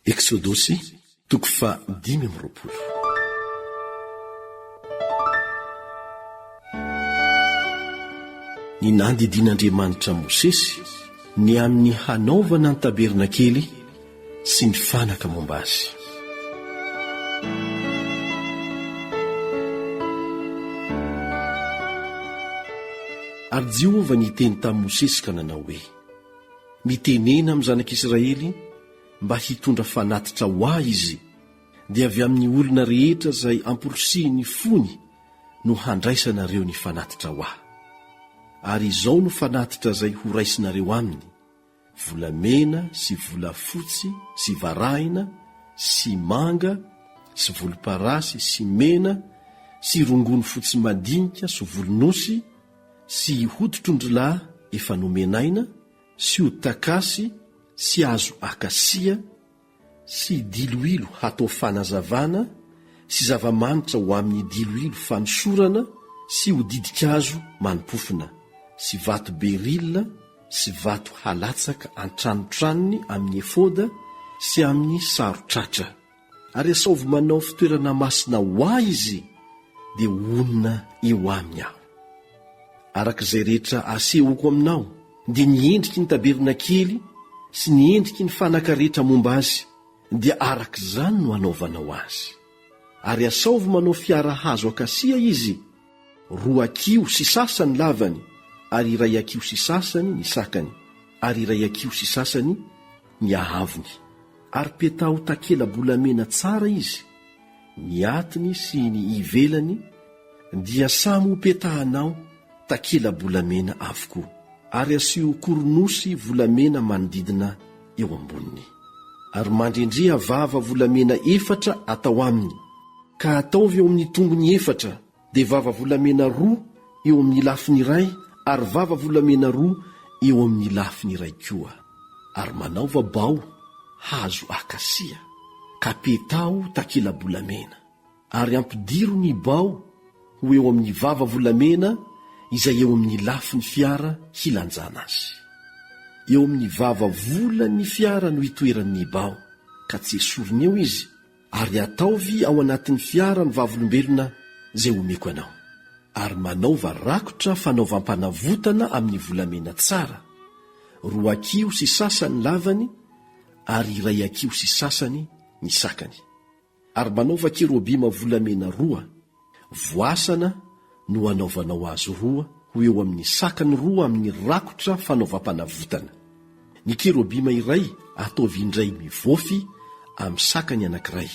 Eksodosy toko faha dimy amby roapolo. Ny nandidian'Andriamanitra an'i Mosesy ny amin'ny hanaovana ny tabernakely sy ny fanaka momba azy. Ary Jehovah niteny tamin'i Mosesy ka nanao hoe, Mitenena amin'ny zanak'Israely mba hitondra fanatitra ho ahy izy, dia avy amin'ny olona rehetra izay amporisihin'ny fony no handraisanareo ny fanatitra ho ahy. Ary izao no fanatitra izay horaisinareo aminy, volamena sy volafotsy sy varahina sy manga sy volomparasy sy mena sy rongony fotsy madinika sy volon'osy sy hoditron-drilahy efa nomenaina, sy ho takasy sy hazo akasia sy diloilo hatao fanazavana sy zava-manitra ho amin'ny diloilo fanosorana sy ho didin-kazo manimpofona sy vato berila sy vato halatsaka an-tranotranony amin'ny efoda sy amin'ny saron-tratra. Ary asaovy manao fitoerana masina ho Ahy Izy, dia honina eo Aminy Aho. Araka izay rehetra asehoko aminao, dia ny endriky ny tabernakely sy ny endriky ny fanaka rehetra momba azy, dia araka izany no anaovanao azy. Ary asaovy manao fiara hazo akasia izy, Roa kiho sy sasa ny lavany ary iray akiho sy sasany ny sakany ary iray akiho sy sasany ny hahavony. Ary petaho takela-bolamena tsara izy, ny atiny sy ny ivelany dia samy hopetahanao takela-bolamena avokoa. Ary asio koronosy volamena manodidina eo amboniny. Ary mandrendreha vava volamena efatra atao aminy, ka ataovy eo amin'ny tongony efatra, dia vava volamena roa eo amin'ny lafiny iray ary vava volamena roa eo amin'ny lafiny iray koa. Ary manaova bao hazo akasia, ka petaho takela-bolamena. ary ampidiro ny bao ho eo amin'ny vava volamena izay eo amin'ny lafiny fiara hilanjana azy. Eo amin'ny vava volan'ny fiara no itoeran'ny bao ka tsy esorina eo izy ary ataovy ao anatin'ny fiara ny vavolombelona izay omeko anao. Ary manaova rakotra fanaovam-panavotana amin'ny volamena tsara, roa akiho sy sasany ny lavany ary iray akiho sy sasany ny sakany. Ary manaova kerobima volamena roa, voasana no hanaovanao azy roa ho eo amin'ny sakany roa amin'ny rakotra fanaovam-panavotana. Ny kerobima iray ataovy indray mivofy amin'ny sakany anankiray,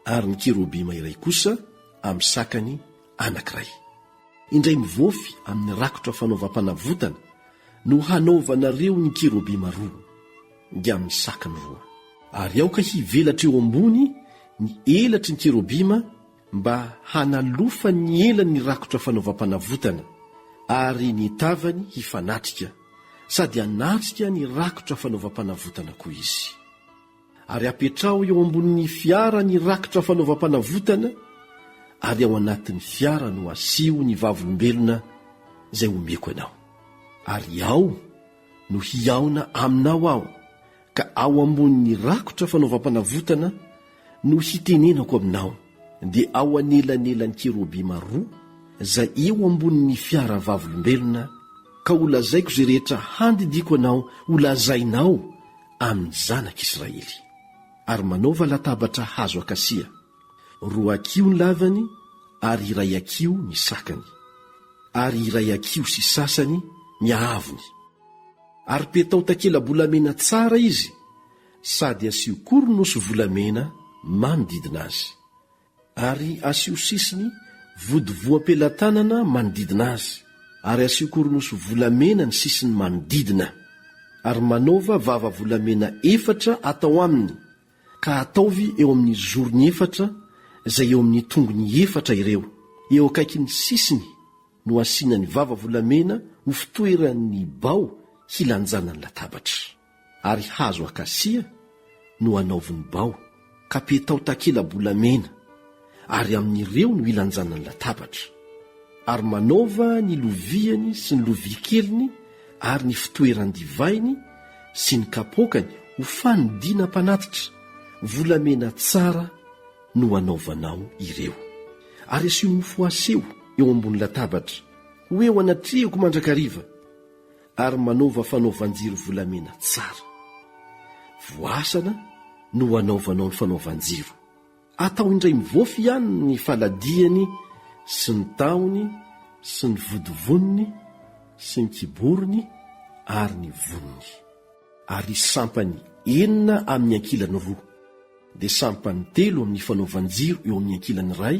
ary ny kerobima iray kosa amin'ny sakany anankiray. Indray mivofy amin'ny rakotra fanaovam-panavotana no hanaovanareo ny kerobima roa. dia misaky ny voa. Ary aoka hivelatra eo ambony ny elatry ny kerobima mba hanalofany ny elany ny rakotra fanaovam-panavotana, ary ny tavany hifanatrika, sady hanatrika ny rakotra fanaovam-panavotana koa izy. Ary apetraho eo ambonin'ny fiara ny rakotra fanaovam-panavotana, ary ao anatin'ny fiara no asiho ny vavolombelona izay omeko anao. Ary ao no hihaona aminao aho, ka ao ambonin'ny rakotra fanaovam-panavotana no hitenenako aminao, dia ao anelanelan'ny kerobima roa izay eo ambonin'ny fiara vavolombelona, ka holazaiko izay rehetra handidiako anao holazainao amin'ny zanak'Israely. Ary manaova latabatra hazo akasia. Roa akiho ny lavany ary iray akiho ny sakany, ary iray akiho sy sasany ny haavony. Ary petao takela-bolamena tsara izy sady asio koronosy volamena manodidina azy. Ary asio sisiny vodivoam-pelatanana manodidina azy, ary asio koronosy volamena ny sisiny manodidina. Ary manaova vava volamena efatra atao aminy, Ka ataovy eo amin'ny zorony efatra izay eo amin'ny tongony efatra ireo. Eo akaikin'ny sisiny no asiana ny vava volamena ho fitoeran'ny bao hilanjana ny latabatra. Ary hazo akasia no anaovy ny bao, ka petao takela-bolamena. ary amin'ireo no ilanjanany latabatra, ary manaova ny loviany sy ny lovia keliny ary ny fitoeran-divainy sy ny kapoakany ho fanodinam-panatitra, volamena tsara no hanaovanao ireo. Ary asio mofo aseho eo ambony latabatra, ho eo anatrehako mandrakariva, ary manaova fanaovan-jiro volamena tsara. Voasana no hanaovanao ny fanaovan-jiro. Atao indray mivoafy ihany ny faladiany sy ny tahony sy ny vodivoniny sy ny kiborony ary ny voniny. Ary sampany enina amin'ny ankilany roa, dia sampany telo amin'ny fanaovan-jiro eo amin'ny ankilany iray,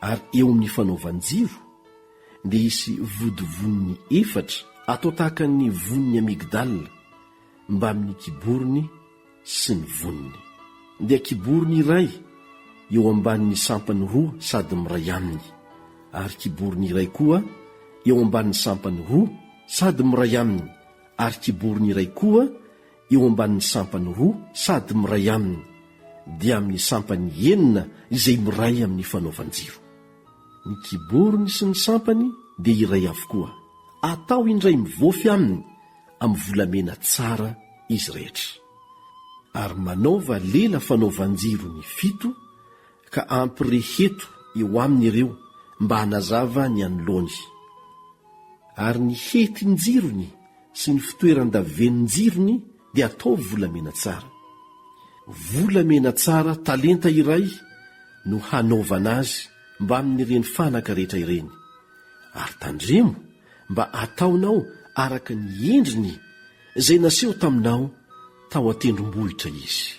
ary eo amin'ny fanaovan-jiro dia hisy vodivoniny efatra atao tahaka ny vonin'ny amygdale mbamin'ny kiborony sy ny voniny, dia kiborony iray eo ambanin'ny sampany roa sady miray aminy ary kiborony iray koa eo ambanin'ny sampany roa sady miray aminy ary kiborony iray koa eo ambanin'ny sampany roa sady miray aminy, dia amin'ny sampany enina izay miray amin'ny fanaovan-jiro. Ny kiborony sy ny sampany dia iray avokoa. Atao indray mivoafy aminy amin'ny volamena tsara izy rehetra. Ary manaova lela fanaovan-jiro ny fito, ka ampireheto eo aminy ireo mba hanazava ny anoloany. Ary ny hetin-jirony sy ny fitoeran-davenonjirony dia ataovy volamena tsara. Volamena tsara talenta iray no hanaovana azy mbamin'ireny fanaka rehetra ireny, ary tandremo mba ataonao araka ny endriny izay naseho taminao tao an-tendrombohitra izy.